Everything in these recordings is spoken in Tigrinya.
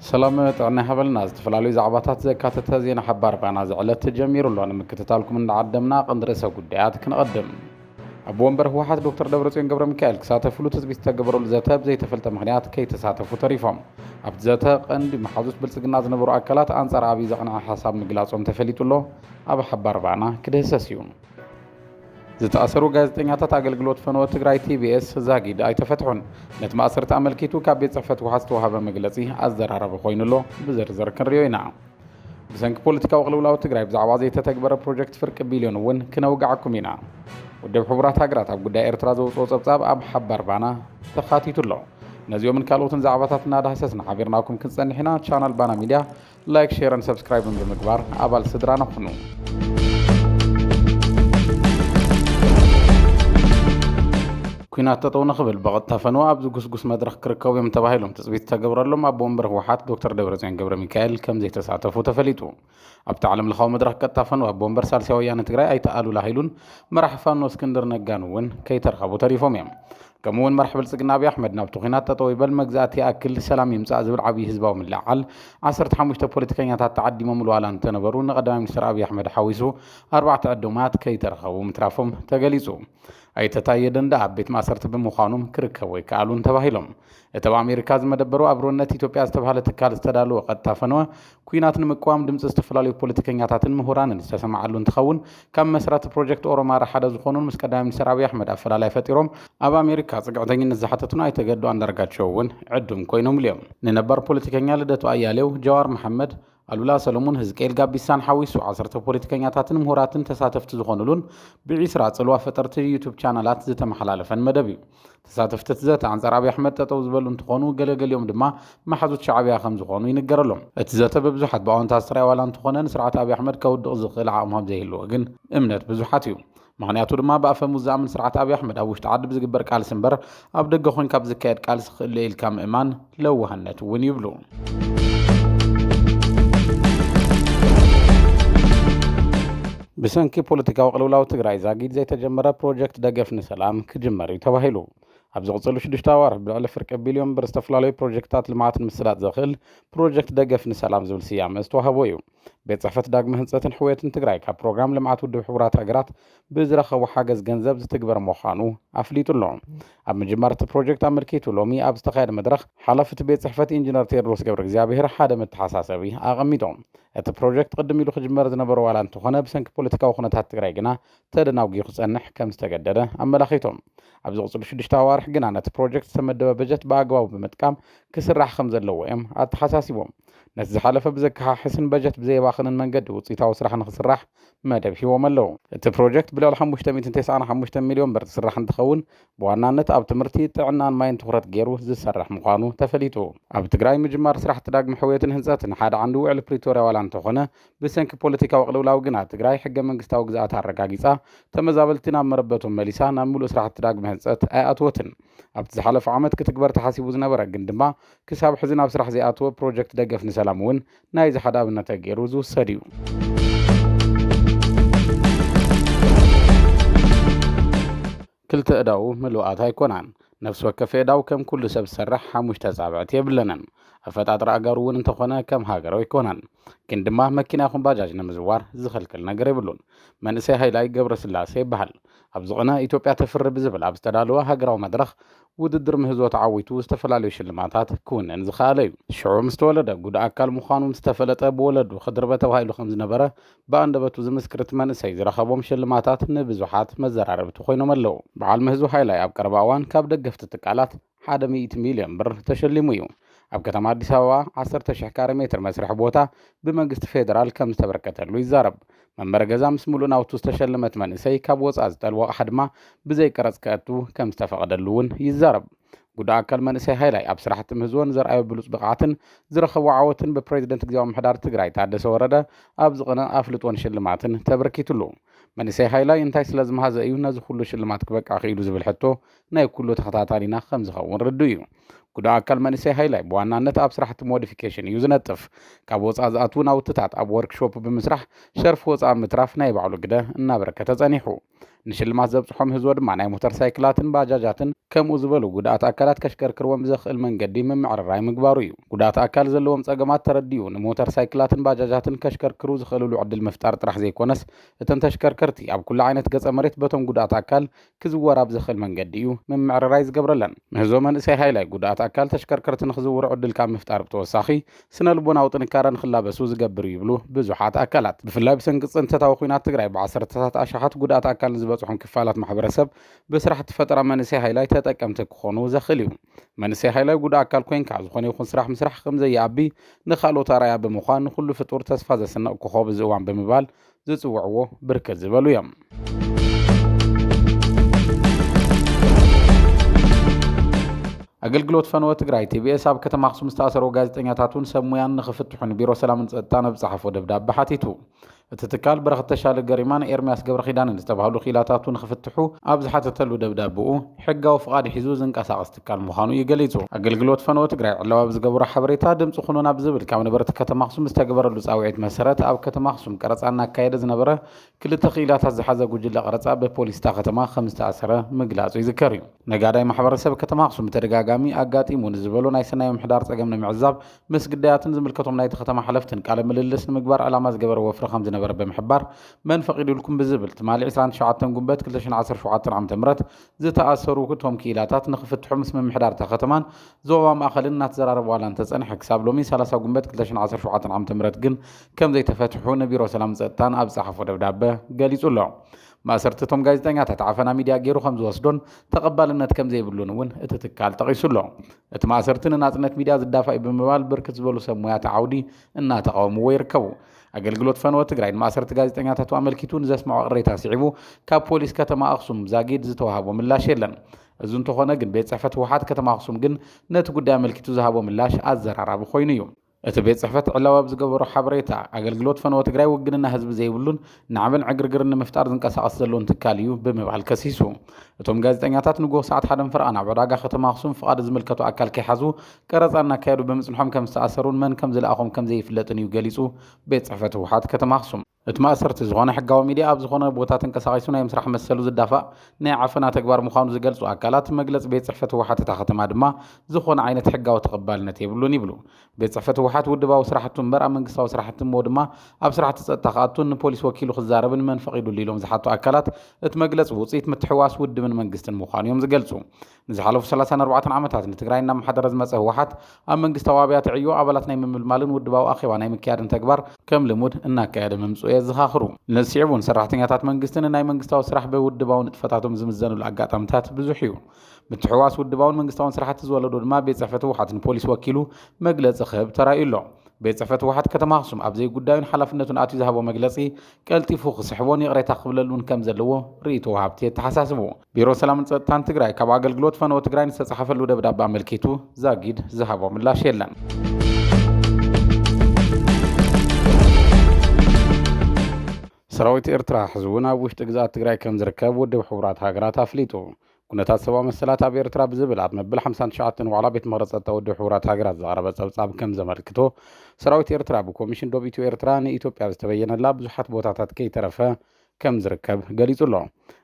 ሰላም ጥዕና ይሃበልና ዝተፈላለዩ ዛዕባታት ዘካተተ ዜና ሓባር ፋና ዝዕለት ጀሚሩ ኣሎ ንምክትታልኩም እንዳዓደምና ቀንዲ ርእሰ ጉዳያት ክንቐድም ኣቦ ወንበር ህወሓት ዶክተር ደብረፅዮን ገብረሚካኤል ክሳተፍሉ ትፅቢት ዝተገበረሉ ዘተ ብዘይተፈልጠ ምኽንያት ከይተሳተፉ ተሪፎም። ኣብቲ ዘተ ቀንዲ መሓዙት ብልፅግና ዝነበሩ ኣካላት ኣንፃር ኣብይ ዘቕንዐ ሓሳብ ምግላፆም ተፈሊጡ ኣሎ። ኣብ ሓባር ባእና ክድህሰስ እዩ። ዝተኣሰሩ ጋዜጠኛታት ኣገልግሎት ፈነወ ትግራይ ቲቢኤስ ዛጊድ ኣይተፈትሑን። ነቲ ማእሰርቲ ኣመልኪቱ ካብ ቤት ፅሕፈት ህወሓት ዝተውሃበ መግለፂ ኣዘራራቢ ኮይኑ ኣሎ። ብዝርዝር ክንሪኦ ኢና። ብሰንኪ ፖለቲካዊ ቅልውላው ትግራይ ብዛዕባ ዘይተተግበረ ፕሮጀክት ፍርቂ ቢልዮን እውን ክነውግዓኩም ኢና። ውድብ ሕቡራት ሃገራት ኣብ ጉዳይ ኤርትራ ዘውጽኦ ጸብጻብ ኣብ ሓባር ባና ተኻቲቱ ኣሎ። ነዚኦምን ካልኦትን ዛዕባታት እናዳህሰስና ሓቢርናኩም ክንጸንሕ ኢና። ቻናል ባና ሚድያ ላይክ፣ ሼርን ሰብስክራይብን ብምግባር ኣባል ስድራና ኩኑ። ኲናት ጠጠው ንኽብል ብቐጥታ ፈነወ ኣብ ዝጉስጉስ መድረኽ ክርከቡ እዮም ተባሂሎም ትፅቢት ዝተገብረሎም ኣቦ ወንበር ህወሓት ዶክተር ደብረፅዮን ገብረሚካኤል ከምዘይተሳተፉ ተፈሊጡ። ኣብቲ ዓለም ለኻዊ መድረኽ ቀጥታ ፈነወ ኣቦ ወንበር ሳልሳይ ወያነ ትግራይ ኣይተ ኣሉላ ሃይሉን መራሒ ፋኖ እስክንድር ነጋን እውን ከይተረኸቡ ተሪፎም እዮም። ከምኡ እውን መራሒ ብልፅግና ኣብዪ ኣሕመድ ናብቲ ኲናት ጠጠው ይበል፣ መግዛእቲ ይኣክል፣ ሰላም ይምፃእ ዝብል ዓብዪ ህዝባዊ ምልዕዓል ዓሰርተ ሓሙሽተ ፖለቲከኛታት ተዓዲሞምሉ ዋላ እንተነበሩ ንቀዳማይ ሚኒስትር ኣብዪ ኣሕመድ ሓዊሱ ኣርባዕተ ዕዱማት ከይተረኸቡ ምትራፎም ተገሊፁ። ኣይተ ታየ ደንደኣ ኣብ ቤት ማእሰርቲ ብምዃኖም ክርከቡ ኣይከኣሉን ተባሂሎም። እቲ ኣብ ኣሜሪካ ዝመደበሩ ኣብሮነት ኢትዮጵያ ዝተብሃለ ትካል ዝተዳለወ ቀጥታ ፈነወ ኲናት ንምቅዋም ድምፂ ዝተፈላለዩ ፖለቲከኛታትን ምሁራንን ዝተሰምዓሉ እንትኸውን ካብ መስራቲ ፕሮጀክት ኦሮማራ ሓደ ዝኾኑን ምስ ቀዳማይ ሚኒስትር ኣብይ ኣሕመድ ኣፈላላይ ፈጢሮም ኣብ ኣሜሪካ ፅግዕተኝነት ዝሓተቱን ኣይተ ገዱ ኣንዳርጋቸው እውን ዕዱም ኮይኖምሉ እዮም። ንነባር ፖለቲከኛ ልደቱ ኣያሌው፣ ጀዋር መሓመድ፣ ኣሉላ ሰለሙን፣ ህዝቅኤል ጋቢሳን ሓዊሱ ዓሰርተ ፖለቲከኛታትን ምሁራትን ተሳተፍቲ ዝኾኑሉን ብዒስራ ጽልዋ ፈጠርቲ ዩቱብ ቻናላት ዝተመሓላለፈን መደብ እዩ። ተሳተፍቲ እቲ ዘተ ኣንጻር ኣብይ ኣሕመድ ጠጠው ዝበሉ እንትኾኑ ገለገሊኦም ድማ መሓዙት ሻዕብያ ከምዝኾኑ ይንገረሎም። እቲ ዘተ ብብዙሓት ብኣወንታ ዝተረኣየ ዋላ እንተኾነ ንስርዓት ኣብይ ኣሕመድ ከውድቕ ዝኽእል ዓቕሚ ከምዘይህልዎ ግን እምነት ብዙሓት እዩ። ምኽንያቱ ድማ ብኣፈሙዝ ዝኣምን ስርዓት ኣብይ ኣሕመድ ኣብ ውሽጢ ዓዲ ብዝግበር ቃልሲ እምበር ኣብ ደገ ኮንካ ብዝካየድ ቃልሲ ክእለዩ ኢልካ ምእማን ለዋህነት እውን ይብሉ። ብሰንኪ ፖለቲካዊ ቅልውላው ትግራይ ዛጊድ ዘይተጀመረ ፕሮጀክት ደገፍ ንሰላም ክጅመር እዩ ተባሂሉ። ኣብ ዝቕፅሉ ሽዱሽተ ኣዋርሕ ብልዕሊ ፍርቂ ቢልዮን ብር ዝተፈላለዩ ፕሮጀክትታት ልምዓት ንምስላጥ ዘኽእል ፕሮጀክት ደገፍ ንሰላም ዝብል ስያመ ዝተዋህቦ እዩ። ቤት ፅሕፈት ዳግመ ህንፀትን ሕውየትን ትግራይ ካብ ፕሮግራም ልምዓት ውድብ ሕቡራት ሃገራት ብዝረኸቦ ሓገዝ ገንዘብ ዝትግበር ምዃኑ ኣፍሊጡ ኣሎ። ኣብ ምጅማር እቲ ፕሮጀክት ኣመልኪቱ ሎሚ ኣብ ዝተኻየደ መድረኽ ሓላፊ እቲ ቤት ፅሕፈት ኢንጂነር ቴድሮስ ገብረእግዚኣብሄር ሓደ መተሓሳሰቢ ኣቐሚጦም። እቲ ፕሮጀክት ቅድም ኢሉ ክጅመር ዝነበሮ ዋላ እንተኾነ ብሰንኪ ፖለቲካዊ ኩነታት ትግራይ ግና ተደናጒዩ ክፀንሕ ከም ዝተገደደ ኣመላኺቶም። ኣብ ዝቕፅሉ ሽዱሽተ ኣዋርሕ ግና ነቲ ፕሮጀክት ዝተመደበ በጀት ብኣግባቡ ብምጥቃም ክስራሕ ከም ዘለዎ እዮም ኣተሓሳሲቦም። ነቲ ዝሓለፈ ብዘከሓሕስን በጀት ብዘየባኽንን መንገዲ ውፅኢታዊ ስራሕ ንክስራሕ መደብ ሂቦም ኣለው። እቲ ፕሮጀክት ብልዕሊ ሓሙሽተ ሚእትን ተስዓን ሓሙሽተን ሚልዮን ብር ዝስራሕ እንትኸውን ብዋናነት ኣብ ትምህርቲ፣ ጥዕናን ማይን ትኹረት ገይሩ ዝሰርሕ ምዃኑ ተፈሊጡ። ኣብ ትግራይ ምጅማር ስራሕቲ ዳግመ ሕውየትን ህንፀትን ሓደ ዓንዲ ውዕሊ ፕሪቶርያ ዋላ እንተኾነ ብሰንኪ ፖለቲካዊ ቅልውላው ግና ትግራይ ሕገ መንግስታዊ ግዝኣታ ኣረጋጊፃ ተመዛበልቲ ናብ መረበቶም መሊሳ ናብ ምሉእ ስራሕቲ ዳግመ ህንፀት ኣይኣትወትን። ኣብቲ ዝሓለፈ ዓመት ክትግበር ተሓሲቡ ዝነበረ ግን ድማ ክሳብ ሕዚ ናብ ስራሕ ዘይኣተወ ፕሮጀክት ደገፍ ንሰላም እውን ናይዚ ሓደ ኣብነት ተገይሩ ዝውሰድ እዩ። ክልተ እዳው ምሉኣት ኣይኮናን። ነፍሲ ወከፍ የእዳው ከም ኩሉ ሰብ ዝሰርሕ ሓሙሽተ ኣጻብዕቲ የብለንን። ኣፈጣጥራ ኣእጋሩ እውን እንተኾነ ከም ሃገር ኣይኮነን። ግን ድማ መኪና ይኹን ባጃጅ ንምዝዋር ዝኽልክል ነገር የብሉን። መንእሰይ ሃይላይ ገብረስላሴ ይበሃል። ኣብዚ ቕነ ኢትዮጵያ ተፍሪ ብዝብል ኣብ ዝተዳለወ ሃገራዊ መድረኽ ውድድር ምህዞ ተዓዊቱ ዝተፈላለዩ ሽልማታት ክውንን ዝኸኣለ እዩ። ሽዑ ምስ ተወለደ ጉድ ኣካል ምዃኑ ምስ ተፈለጠ ብወለዱ ክድርበ ተባሂሉ ከም ዝነበረ ብኣንደበቱ ዝምስክር እቲ መንእሰይ ዝረኸቦም ሽልማታት ንብዙሓት መዘራረብቲ ኮይኖም ኣለዉ። በዓል ምህዞ ሃይላይ ኣብ ቀረባ እዋን ካብ ደገፍቲ ትካላት ሓደ ሚእቲ ሚልዮን ብር ተሸሊሙ እዩ። ኣብ ከተማ ኣዲስ ኣበባ ዓሰርተ ሽሕ ካሬ ሜትር መስርሒ ቦታ ብመንግስቲ ፌደራል ከም ዝተበርከተሉ ይዛረብ። መንበሪ ገዛ ምስ ምሉእ ናውቱ ዝተሸለመት መንእሰይ ካብ ወፃእ ዝጠልቦ ኣቕሓ ድማ ብዘይ ቀረፅ ከእቱ ከም ዝተፈቐደሉ እውን ይዛረብ። ጉዳ ኣካል መንእሰይ ሃይላይ ኣብ ስራሕቲ ምህዝዎ ንዘርኣዮ ብሉፅ ብቕዓትን ዝረኸቦ ዓወትን ብፕሬዚደንት ግዝያዊ ምምሕዳር ትግራይ ታደሰ ወረደ ኣብ ዝቕነ ኣፍልጦን ሽልማትን ተበርኪትሉ። መንእሰይ ሃይላይ እንታይ ስለዝመሃዘ እዩ ነዚ ኩሉ ሽልማት ክበቅዕ ክኢሉ ዝብል ሕቶ ናይ ኩሉ ተኸታታሊና ከም ዝኸውን ርዱእ እዩ። ጉዱእ ኣካል መንእሰይ ሃይላይ ብዋናነት ኣብ ስራሕቲ ሞዲፊኬሽን እዩ ዝነጥፍ። ካብ ወፃእ ዝኣትዉ ናውትታት ኣብ ወርክ ሾፕ ብምስራሕ ሸርፊ ወፃእ ምትራፍ ናይ ባዕሉ ግደ እናበረከተ ፀኒሑ። ንሽልማት ዘብፅሖ ምህዞ ድማ ናይ ሞተር ሳይክላትን ባጃጃትን ከምኡ ዝበሉ ጉዱኣት ኣካላት ከሽከርክርዎም ብዘኽእል መንገዲ ምምዕርራይ ምግባሩ እዩ። ጉዱኣት ኣካል ዘለዎም ፀገማት ተረዲኡ ንሞተር ሳይክላትን ባጃጃትን ከሽከርክሩ ዝኽእልሉ ዕድል ምፍጣር ጥራሕ ዘይኮነስ እተን ተሽከርከርቲ ኣብ ኩሉ ዓይነት ገፀ መሬት በቶም ጉዱኣት ኣካል ክዝወር ኣብ ዘኽእል መንገዲ እዩ ምምዕርራይ ዝገብረለን። ምህዞ መንእሰይ ሃይላይ ጉዱኣት ኣካል ተሽከርከርቲ ንኽዝውሩ ዕድል ካብ ምፍጣር ብተወሳኺ ስነ ልቦናዊ ጥንካረ ንኽላበሱ ዝገብር እዩ ይብሉ ብዙሓት ኣካላት። ብፍላይ ብሰንኪ ፅንተታዊ ኹናት ትግራይ ብዓሰርተታት ኣሽሓት ጉዱኣት ኣካል ንዝበፅሖም ክፋላት ማሕበረሰብ ብስራሕቲ ፈጠራ መንእሰይ ሃይላይ ተጠቀምቲ ክኾኑ ዘኽእል እዩ። መንእሰይ ሃይላይ ጉዱእ ኣካል ኮይንካ ዝኾነ ይኹን ስራሕ ምስራሕ ከምዘይኣቢ ንኻልኦት ኣርኣያ ብምዃን ንኹሉ ፍጡር ተስፋ ዘስንቕ ኮኾብ እዚ እዋን ብምባል ዝጽውዕዎ ብርክት ዝበሉ እዮም። ኣገልግሎት ፈነወ ትግራይ ቲቢኤስ ኣብ ከተማ ኣክሱም ዝተኣሰሩ ጋዜጠኛታቱን ሰብ ሙያን ንክፍትሑን ቢሮ ሰላምን ጸጥታን ኣብ ጸሓፎ ደብዳቤ ሓቲቱ እቲ ትካል ብረኽ ተሻለ ገሪማን ኤርሚያስ ገብረ ኪዳንን ዝተባህሉ ክኢላታቱ ንክፍትሑ ኣብ ዝሓተተሉ ደብዳቤኡ ሕጋዊ ፍቓድ ሒዙ ዝንቀሳቐስ ትካል ምዃኑ እዩ ገሊፁ። ኣገልግሎት ፈነወ ትግራይ ዕላዊ ኣብ ዝገበሮ ሓበሬታ፣ ድምፂ ኹኑና ብዝብል ካብ ነበርቲ ከተማ ኣኽሱም ዝተገበረሉ ፃውዒት መሰረት ኣብ ከተማ ኣኽሱም ቀረፃ እናካየደ ዝነበረ ክልተ ክኢላታት ዝሓዘ ጉጅለ ቀረፃ ብፖሊስ እታ ከተማ ከምዝተኣሰረ ምግላፁ ይዝከር እዩ። ነጋዳይ ማሕበረሰብ ከተማ ኣኽሱም ብተደጋጋሚ ኣጋጢሙ ንዝበሎ ናይ ሰናይ ምምሕዳር ፀገም ንምዕዛብ ምስ ግዳያትን ዝምልከቶም ናይቲ ከተማ ሓለፍትን ቃለ ምልልስ ንምግባር ዕላማ ዝገበረ ወፍሪ ከምዝነበረ ብምሕባር መን ፈቒዱልኩም ብዝብል ትማሊ ዕስራን ትሽዓተን ጉንበት ክልተ ሽሕን ዓሰርተ ሸውዓተን ዓመተ ምህረት ዝተኣሰሩ እቶም ክኢላታት ንክፍትሑ ምስ ምምሕዳር እታ ከተማን ዞባ ማእኸልን እናተዘራረቡ ዋላ እንተፀንሐ ክሳብ ሎሚ 30 ጉንበት 2017 ዓ.ም ግን ከምዘይተፈትሑ ንቢሮ ሰላምን ፀጥታን ኣብ ዝፀሓፎ ደብዳበ ገሊፁ ኣሎ። ማእሰርቲ እቶም ጋዜጠኛታት ዓፈና ሚድያ ገይሩ ከምዝወስዶን ተቐባልነት ከምዘይብሉን እውን እቲ ትካል ጠቒሱ ኣሎ። እቲ ማእሰርቲ ንናፅነት ሚድያ ዝዳፋእ እዩ ብምባል ብርክት ዝበሉ ሰብ ሞያታ ዓውዲ እናተቓወምዎ ይርከቡ። ኣገልግሎት ፈነወ ትግራይ ንማእሰርቲ ጋዜጠኛታቱ ኣመልኪቱ ንዘስምዖ ቅሬታ ስዒቡ ካብ ፖሊስ ከተማ ኣኽሱም ዛጊድ ዝተዋሃቦ ምላሽ የለን። እዚ እንተኾነ ግን ቤት ጽሕፈት ህወሓት ከተማ ኣኽሱም ግን ነቲ ጉዳይ ኣመልኪቱ ዝሃቦ ምላሽ ኣዘራራቢ ኮይኑ እዩ። እቲ ቤት ጽሕፈት ዕላዊ ኣብ ዝገበሮ ሓበሬታ፣ ኣገልግሎት ፈነወ ትግራይ ውግንና ህዝቢ ዘይብሉን ናዕብን ዕግርግርን ንምፍጣር ዝንቀሳቐስ ዘሎን ትካል እዩ ብምባል ከሲሱ። እቶም ጋዜጠኛታት ንጉሆ ሰዓት ሓደን ፈረቓን ኣብ ዕዳጋ ከተማ ኣኽሱም ፍቓድ ዝምልከቶ ኣካል ከይሓዙ ቀረፃ እናካየዱ ብምፅንሖም ከም ዝተኣሰሩን መን ከም ዝለኣኾም ከም ዘይፍለጥን እዩ ገሊፁ ቤት ፅሕፈት ህወሓት ከተማ ኣኽሱም። እቲ ማእሰርቲ ዝኾነ ሕጋዊ ሚድያ ኣብ ዝኾነ ቦታ ተንቀሳቒሱ ናይ ምስራሕ መሰሉ ዝዳፋእ ናይ ዓፈና ተግባር ምዃኑ ዝገልፁ ኣካላት መግለፂ ቤት ፅሕፈት ህወሓት እታ ከተማ ድማ ዝኾነ ዓይነት ሕጋዊ ተቐባልነት የብሉን ይብሉ። ቤት ፅሕፈት ህወሓት ውድባዊ ስራሕቱ እምበር ኣብ መንግስታዊ ስራሕቲ እሞ ድማ ኣብ ስራሕቲ ፀጥታ ክኣቱን ንፖሊስ ወኪሉ ክዛረብን መን ፈቒዱሉ ኢሎም ዝሓቱ ኣካላት እቲ መግለፂ ውፅኢት ምትሕውዋስ ውድብን መንግስትን ምዃኑ እዮም ዝገልፁ። ንዝሓለፉ ሰላሳን ኣርባዕተን ዓመታት ንትግራይ እናመሓደረ ዝመፀ ህወሓት ኣብ መንግስታዊ ኣብያተ ዕዮ ኣባላት ናይ ምምልማልን ውድባዊ ኣኼባ ናይ ምክያድን ተግባር ከም ልሙድ እናካየደ ምምፅኡ የዘኻኽሩ። ነዚ ስዒቡ እውን ሰራሕተኛታት መንግስቲ ንናይ መንግስታዊ ስራሕ ብውድባዊ ንጥፈታቶም ዝምዘንሉ ኣጋጣምታት ብዙሕ እዩ። ምትሕውዋስ ውድባውን መንግስታውን ስራሕቲ ዝወለዶ ድማ ቤት ፅሕፈት ህወሓት ንፖሊስ ወኪሉ መግለፂ ክህብ ተራእዩ ኣሎ። ቤት ፅሕፈት ህወሓት ከተማ ኣኽሱም ኣብ ዘይጉዳዩን ሓላፍነቱን ኣትዩ ዝሃቦ መግለፂ ቀልጢፉ ክስሕቦን ይቕሬታ ክብለሉን ከም ዘለዎ ርኢቶ ወሃብቲ የተሓሳስቡ። ቢሮ ሰላምን ፀጥታን ትግራይ ካብ ኣገልግሎት ፈነወ ትግራይ ንዝተፃሓፈሉ ደብዳቤ ኣመልኪቱ ዛጊድ ዝሃቦ ምላሽ የለን። ሰራዊት ኤርትራ ሕዚ እውን ኣብ ውሽጢ ግዝኣት ትግራይ ከም ዝርከብ ውድብ ሕቡራት ሃገራት ኣፍሊጡ ኩነታት ሰብኣዊ መሰላት ኣብ ኤርትራ ብዝብል ኣብ መብል 59 ዋዕላ ቤት ምክሪ ጸጥታ ውድብ ሕቡራት ሃገራት ዝቐረበ ጸብጻብ ከም ዘመልክቶ ሰራዊት ኤርትራ ብኮሚሽን ዶብ ኢትዮ ኤርትራ ንኢትዮጵያ ዝተበየነላ ብዙሓት ቦታታት ከይተረፈ ከም ዝርከብ ገሊጹ ኣሎ።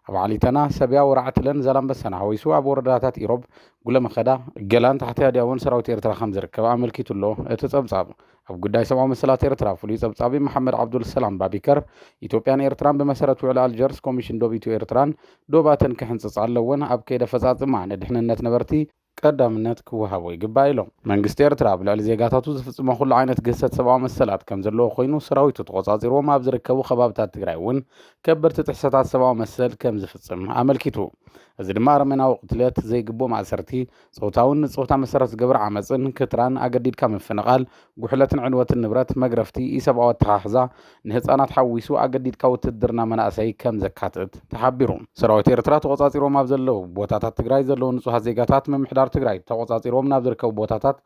ኣብ ዓሊተና፣ ሰብያ፣ ወራዕትለን ዛላምበሳን ሓዊሱ ኣብ ወረዳታት ኢሮብ፣ ጉለመኸዳ፣ ገላን ታሕቲ ኣድያቦን ሰራዊት ኤርትራ ከም ዝርከብ ኣመልኪቱ ኣሎ እቲ ጸብጻብ። ኣብ ጉዳይ ሰብኣዊ መሰላት ኤርትራ ፍሉይ ጸብጻቢ መሓመድ ዓብዱል ሰላም ባቢከር፣ ኢትዮጵያን ኤርትራን ብመሰረት ውዕሊ ኣልጀርስ ኮሚሽን ዶብ ኢትዮ-ኤርትራን ዶባተን ክሕንጽጻ ኣለወን፣ ኣብ ከይዲ ኣፈጻጽማ ንድሕንነት ነበርቲ፣ ቀዳምነት ክወሃቦ ይግባእ ኢሎም። መንግስቲ ኤርትራ ኣብ ልዕሊ ዜጋታቱ ዝፍጽሞ ኩሉ ዓይነት ግህሰት ሰብኣዊ መሰላት ከም ዘለዎ ኮይኑ፣ ሰራዊቱ ተቖጻጺርዎም ኣብ ዝርከቡ ከባብታት ትግራይ እውን ከበድቲ ጥሕሰታት ሰብኣዊ መሰል ከም ዝፍጽም ኣመልኪቱ። እዚ ድማ ኣረሜናዊ ቅትለት፣ ዘይግቡእ ማእሰርቲ፣ ጾታውን ንጾታ መሰረት ዝገበረ ዓመጽን፣ ክትራን፣ ኣገዲድካ ምፍንቓል፣ ጉሕለትን ዕንወትን ንብረት፣ መግረፍቲ፣ ኢሰብኣዊ ኣተሓሕዛ፣ ንህጻናት ሓዊሱ ኣገዲድካ ውትህድርና መናእሰይ ከም ዘካትት ተሓቢሩ። ሰራዊት ኤርትራ ተቖጻጺሮም ኣብ ዘለዉ ቦታታት ትግራይ ዘለዉ ንጹሃት ዜጋታት ምምሕዳር ትግራይ ተቖጻጺርዎም ናብ ዝርከቡ ቦታታት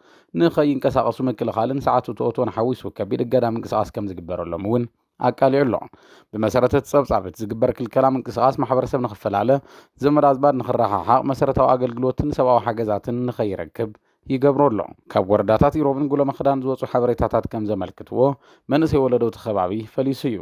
ንኸይንቀሳቐሱ ምክልኻልን ሰዓት እቶ እቶን ሓዊሱ ከቢድ እገዳ ምንቅስቓስ ከም ዝግበረሎም እውን ኣቃሊዑ ኣሎ። ብመሰረት እቲ ጸብጻብ፣ እቲ ዝግበር ክልከላ ምንቅስቓስ ማሕበረሰብ ንኽፈላለ፣ ዘመድ ኣዝማድ ንኽረሓሓቕ፣ መሰረታዊ ኣገልግሎትን ሰብኣዊ ሓገዛትን ንኸይረክብ ይገብሮ ኣሎ። ካብ ወረዳታት ኢሮብን ጉሎመኽዳን ዝወጹ ሓበሬታታት ከም ዘመልክትዎ፣ መንእሰይ ወለዶ እቲ ከባቢ ፈሊሱ እዩ።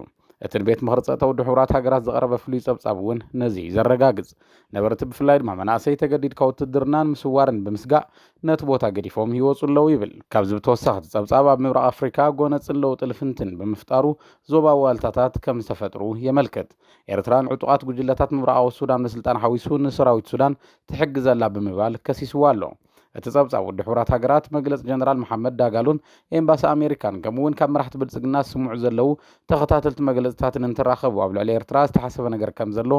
እቲ ንቤት ምኽሪ ጸጥታ ውድብ ሕቡራት ሃገራት ዝቐረበ ፍሉይ ጸብጻብ እውን ነዚ እዩ ዘረጋግጽ። ነበርቲ ብፍላይ ድማ መናእሰይ ተገዲድካ ውትድርና ንምስዋር ብምስጋእ ነቲ ቦታ ገዲፎም ይወፁ ኣለዉ ይብል። ካብዚ ብተወሳኺ እቲ ፀብፃብ ኣብ ምብራቕ ኣፍሪካ ጎነፅን ለውጢ ልፍንትን ብምፍጣሩ ዞባዊ ዋልታታት ከምዝተፈጥሩ የመልክት። ኤርትራ ንዕጡቓት ጉጅለታት ምብራቓዊ ሱዳን ምስልጣን ሓዊሱ ንሰራዊት ሱዳን ትሕግዝ ኣላ ብምባል ከሲስዋ ኣሎ። እቲ ጸብጻብ ውድብ ሕቡራት ሃገራት፣ መግለጺ ጀነራል መሓመድ ዳጋሎን ኤምባሲ ኣሜሪካን ከምኡ'ውን ካብ መራሕቲ ብልጽግና ዝስምዑ ዘለዉ ተኸታተልቲ መግለጺታትን እንትራኸቡ ኣብ ልዕሊ ኤርትራ ዝተሓሰበ ነገር ከምዘሎ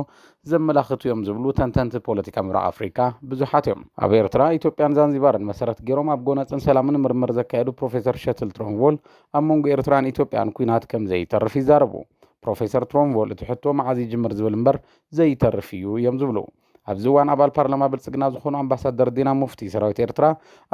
ዘመላኽቱ'ዮም ዝብሉ ተንተንቲ ፖለቲካ ምብራቕ ኣፍሪቃ ብዙሓት'ዮም። ኣብ ኤርትራ፣ ኢትዮጵያን ዛንዚባርን መሰረት ገይሮም ኣብ ጎነጽን ሰላምን ምርምር ዘካየዱ ፕሮፌሰር ሸትል ትሮንቮል ኣብ መንጎ ኤርትራን ኢትዮጵያን ኲናት ከምዘይተርፍ ይዛረቡ። ፕሮፌሰር ትሮንቮል እቲ ሕቶ መዓዝ ይጅምር ዝብል እምበር ዘይተርፍ እዩ እዮም ዝብሉ። ኣብዚ እዋን ኣባል ፓርላማ ብልፅግና ዝኾኑ ኣምባሳደር ዲና ሙፍቲ ሰራዊት ኤርትራ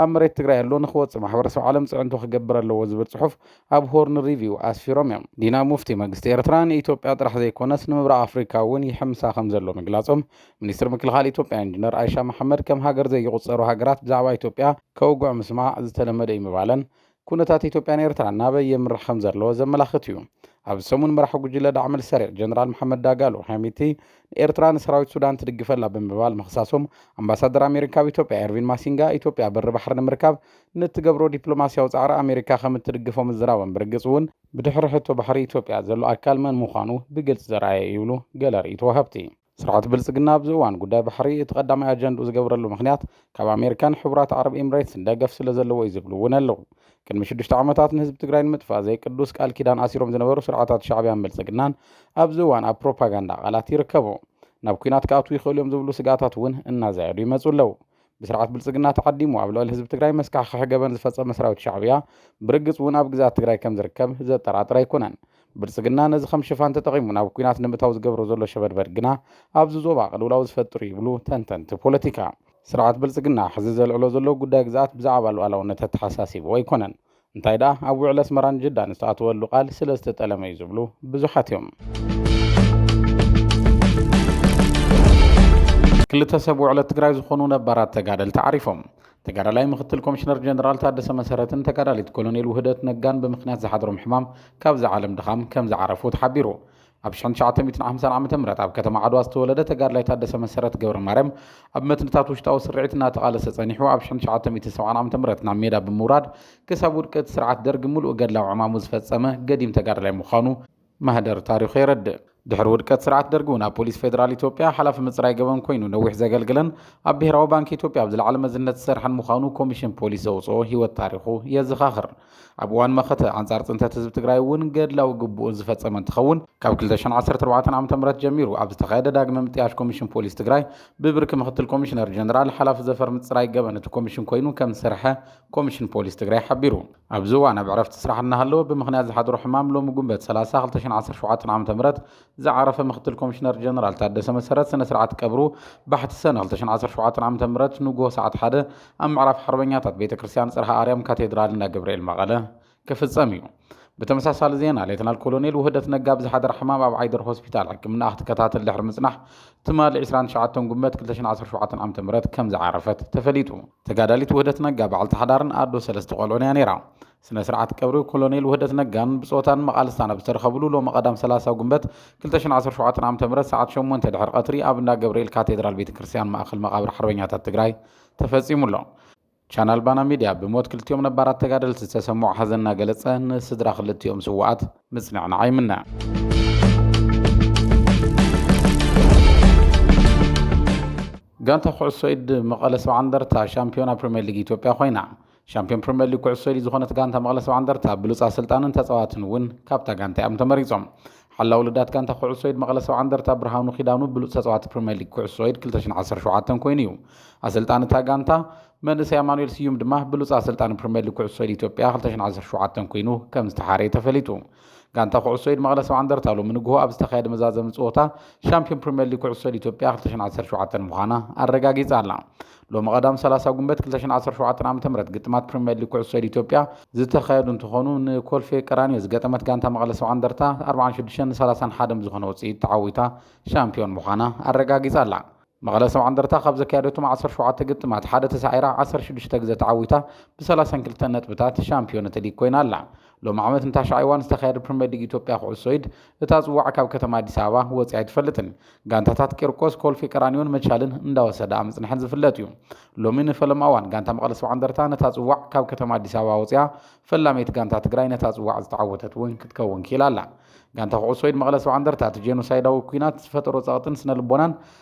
ኣብ መሬት ትግራይ ኣሎ ንክወፅእ ማሕበረሰብ ዓለም ፅዕንቶ ክገብር ኣለዎ ዝብል ፅሑፍ ኣብ ሆርን ሪቪው ኣስፊሮም እዮም። ዲና ሙፍቲ መንግስቲ ኤርትራ ንኢትዮጵያ ጥራሕ ዘይኮነስ ንምብራቕ ኣፍሪካ እውን ይሕምሳ ከምዘሎ ምግላፆም ሚኒስትር ምክልኻል ኢትዮጵያ ኢንጂነር ኣይሻ መሓመድ ከም ሃገር ዘይቑፀሩ ሃገራት ብዛዕባ ኢትዮጵያ ከውግዑ ምስማዕ ዝተለመደ እዩ ምባለን ኩነታት ኢትዮጵያን ኤርትራን ናበይ የምርሕ ከምዘሎ ዘመላኽት እዩ። ኣብዚ ሰሙን መራሒ ጉጅለ ዳዕመል ሰሪዕ ጀነራል መሓመድ ዳጋሎ ሐሚቲ ንኤርትራ ንሰራዊት ሱዳን ትድግፈላ ብምባል ምኽሳሶም ኣምባሳደር ኣሜሪካ ኣብ ኢትዮጵያ ኤርቪን ማሲንጋ ኢትዮጵያ በሪ ባሕሪ ንምርካብ ንእትገብሮ ዲፕሎማሲያዊ ጻዕሪ ኣሜሪካ ከም እትድግፎ ምዝራቦም ብርግጽ እውን ብድሕሪ ሕቶ ባሕሪ ኢትዮጵያ ዘሎ ኣካል መን ምዃኑ ብግልጺ ዘርኣየ እዩ ይብሉ ገለ ርእይቶ ወሃብቲ። ስርዓት ብልፅግና ኣብዚ እዋን ጉዳይ ባሕሪ እቲ ቀዳማይ ኣጀንድኡ ዝገብረሉ ምኽንያት ካብ ኣሜሪካን ሕቡራት ዓረብ ኢምሬትስን ደገፍ ስለዘለዎ እዩ ዝብሉ እውን ኣለው። ቅድሚ ሽዱሽተ ዓመታት ንህዝቢ ትግራይ ንምጥፋእ ዘይቅዱስ ቃል ኪዳን ኣሲሮም ዝነበሩ ስርዓታት ሻዕቢያን ብልፅግናን ኣብዚ እዋን ኣብ ፕሮፓጋንዳ ቃላት ይርከቡ። ናብ ኲናት ክኣትዉ ይኽእሉ እዮም ዝብሉ ስግኣታት እውን እናዛየዱ ይመፁ ኣለው። ብስርዓት ብልፅግና ተዓዲሙ ኣብ ልዕሊ ህዝቢ ትግራይ መስካሕኽሒ ገበን ዝፈፀመ ሰራዊት ሻዕብያ ብርግፅ እውን ኣብ ግዝኣት ትግራይ ከምዝርከብ ዘጠራጥር ኣይኮነን። ብልፅግና ነዚ ከም ሽፋን ተጠቒሙ ናብ ኲናት ንምእታው ዝገብሮ ዘሎ ሸበድበድ ግና ኣብዚ ዞባ ቅልውላው ዝፈጥር እዩ ይብሉ ተንተንቲ ፖለቲካ። ስርዓት ብልፅግና ሕዚ ዘልዕሎ ዘሎ ጉዳይ ግዝኣት ብዛዕባ ሉኣላውነት ኣተሓሳሲብዎ ኣይኮነን። እንታይ ደኣ ኣብ ውዕል ኣስመራን ጅዳን ዝተኣተወሉ ቃል ስለ ዝተጠለመ እዩ ዝብሉ ብዙሓት እዮም። ክልተ ሰብ ውዕለት ትግራይ ዝኾኑ ነባራት ተጋደልቲ ዓሪፎም ተጋዳላይ ምክትል ኮሚሽነር ጀነራል ታደሰ መሰረትን ተጋዳሊት ኮሎኔል ውህደት ነጋን ብምክንያት ዝሓድሮም ሕማም ካብዚ ዓለም ድኻም ከም ዝዓረፉ ተሓቢሩ ኣብ ሽሕን ትሽዓተ ሚእትን ሓምሳን ዓመተ ምህረት ኣብ ከተማ ዓድዋ ዝተወለደ ተጋድላይ ታደሰ መሰረት ገብረማርያም ኣብ መትንታት ውሽጣዊ ስርዒት እናተቓለሰ ጸኒሑ ኣብ ሽሕን ትሽዓተ ሚእትን ሰብዓን ዓመተ ምህረት ናብ ሜዳ ብምውራድ ክሳብ ውድቀት ስርዓት ደርግ ምሉእ ገድላዊ ዕማሙ ዝፈጸመ ገዲም ተጋዳላይ ምዃኑ ማህደር ታሪኹ የረድእ። ድሕሪ ውድቀት ስርዓት ደርግ'ውን ኣብ ፖሊስ ፌደራል ኢትዮጵያ ሓላፊ ምጽራይ ገበን ኮይኑ ነዊሕ ዘገልግለን ኣብ ብሄራዊ ባንኪ ኢትዮጵያ ኣብ ዝለዓለ መዝነት ዝሰርሐን ምዃኑ ኮሚሽን ፖሊስ ዘውጽኦ ህይወት ታሪኹ የዘኻኽር። ኣብ እዋን መኸተ ኣንጻር ፅንተት ህዝቢ ትግራይ እውን ገድላዊ ግቡኡን ዝፈጸመ እንትኸውን ካብ 2014 ዓ.ም ጀሚሩ ኣብ ዝተኻየደ ዳግመ ምጥያሽ ኮሚሽን ፖሊስ ትግራይ ብብርኪ ምክትል ኮሚሽነር ጀነራል ሓላፊ ዘፈር ምፅራይ ገበን እቲ ኮሚሽን ኮይኑ ከም ዝሰርሐ ኮሚሽን ፖሊስ ትግራይ ሓቢሩ። ኣብዚ እዋን ኣብ ዕረፍቲ ስራሕ እናሃለወ ብምኽንያት ዝሓደሮ ሕማም ሎሚ ጉንበት 30፣ 2017 ዓ.ም ዝዓረፈ ምክትል ኮሚሽነር ጀነራል ታደሰ መሰረት ስነ ስርዓት ቀብሩ ባሕቲ ሰነ 2017 ዓ.ም ንጉሆ ሰዓት ሓደ ኣብ ምዕራፍ ሓርበኛታት ቤተ ክርስቲያን ጽርሃ ኣርያም ካቴድራል እንዳ ገብርኤል መቐለ ክፍጸም እዩ። ብተመሳሳሊ ዜና ሌተናል ኮሎኔል ውህደት ነጋ ብዝሓደራ ሕማም ኣብ ዓይደር ሆስፒታል ሕክምናኣ ክትከታተል ድሕሪ ምጽናሕ ትማሊ 29 ጉንበት 2017 ዓ.ም ከም ዝዓረፈት ተፈሊጡ። ተጋዳሊት ውህደት ነጋ በዓልቲ ሓዳርን ኣዶ ሰለስተ ቆልዑን እያ ነይራ። ስነ-ስርዓት ቀብሪ ኮሎኔል ውህደት ነጋን ብጾታን መቓልስታን ኣብ ዝተረኸብሉ ሎሚ ቀዳም ሰላሳ ጉንበት ክልተ ሽሕን ዓሰርተ ሸውዓተን ዓመተ ምህረት ሰዓት ሸሞንተ ድሕሪ ቀትሪ ኣብ እንዳ ገብርኤል ካቴድራል ቤተ ክርስቲያን ማእከል መቓብር ሓርበኛታት ትግራይ ተፈጺሙ ኣሎ። ቻናል ባና ሚድያ ብሞት ክልቲኦም ነባራት ተጋደልቲ ዝተሰምዖ ሓዘን እናገለጸ ንስድራ ክልቲኦም ስውኣት ምጽንዕናዕ ይምነ። ጋንታ ኩዕሶ ኢድ መቐለ ሰብዓ እንደርታ ሻምፒዮና ፕሪምየር ሊግ ኢትዮጵያ ኮይና። ሻምፒዮን ፕሪምየር ሊግ ኩዕሶ ኢድ ዝኾነት ጋንታ መቐለ ሰብዓ እንደርታ ብሉፅ ኣሰልጣንን ተፃዋትን እውን ካብታ ጋንታ እዮም ተመሪፆም። ሓላዊ ልዳት ጋንታ ኩዕሶ ኢድ መቐለ ሰብዓ እንደርታ ብርሃኑ ኪዳኑ ብሉፅ ተፃዋቲ ፕሪምየር ሊግ ኩዕሶ ኢድ 2017 ኮይኑ እዩ። ኣሰልጣኒ እታ ጋንታ መንእሰይ ኣማኑኤል ስዩም ድማ ብሉፅ ኣሰልጣኒ ፕሪምየር ሊግ ኩዕሶ ኢድ ኢትዮጵያ 2017 ኮይኑ ከም ዝተሓረየ ተፈሊጡ። ጋንታ ኩዕሶ ኢድ መቐለ ሰብዓ እንደርታ ሎሚ ንግሆ ኣብ ዝተኻየደ መዛዘሚ ፀወታ ሻምፒዮን ፕሪምየር ሊግ ኩዕሶ ኢድ ኢትዮጵያ 2017 ምዃና ኣረጋጊፃ ኣላ። ሎሚ ቀዳም ሰላሳ ጉንበት ክልተ ሽሕን ዓሰርተ ሸውዓተን ዓመተ ምህረት ግጥማት ፕሪምየር ሊግ ኩዕሶ ኢድ ኢትዮጵያ ዝተኻየዱ እንትኾኑ ንኮልፌ ቀራኒዮ ዝገጠመት ጋንታ መቐለ ሰብዓ እንደርታ ኣርብዓን ሽዱሽተን ሰላሳን ሓደ ብዝኾነ ውፅኢት ተዓዊታ ሻምፒዮን ምዃና ኣረጋጊፃ ኣላ። መቐለ ሰብዓ እንደርታ ካብ ዘካየደቶም ዓሰርተ ሸውዓተ ግጥማት ሓደ ተሳዒራ ዓሰርተ ሽዱሽተ ግዘ ተዓዊታ ብሰላሳን ክልተን ነጥብታት ሻምፒዮን እቲ ሊግ ኮይና ኣላ። ሎሚ ዓመት ንታሽዓይ እዋን ዝተኻየደ ፕሪምየር ሊግ ኢትዮጵያ ኩዕሶ ኢድ እታ ፅዋዕ ካብ ከተማ ኣዲስ ኣበባ ወፂኣ ኣይትፈልጥን። ጋንታታት ቂርቆስ፣ ኮልፌ ቀራኒዮን መቻልን እንዳወሰዳኣ ምፅንሐን ዝፍለጥ እዩ። ሎሚ ንፈለማ እዋን ጋንታ መቐለ ሰብዓ እንደርታ ነታ ፅዋዕ ካብ ከተማ ኣዲስ ኣበባ ወፂኣ ፈላመይቲ ጋንታ ትግራይ ነታ ፅዋዕ ዝተዓወተት እውን ክትከውን ክኢላ ኣላ። ጋንታ ኩዕሶ ኢድ መቐለ ሰብዓ እንደርታ እቲ ጄኖሳይዳዊ ኲናት ዝፈጠሮ ፀቕጥን ስነ ልቦናን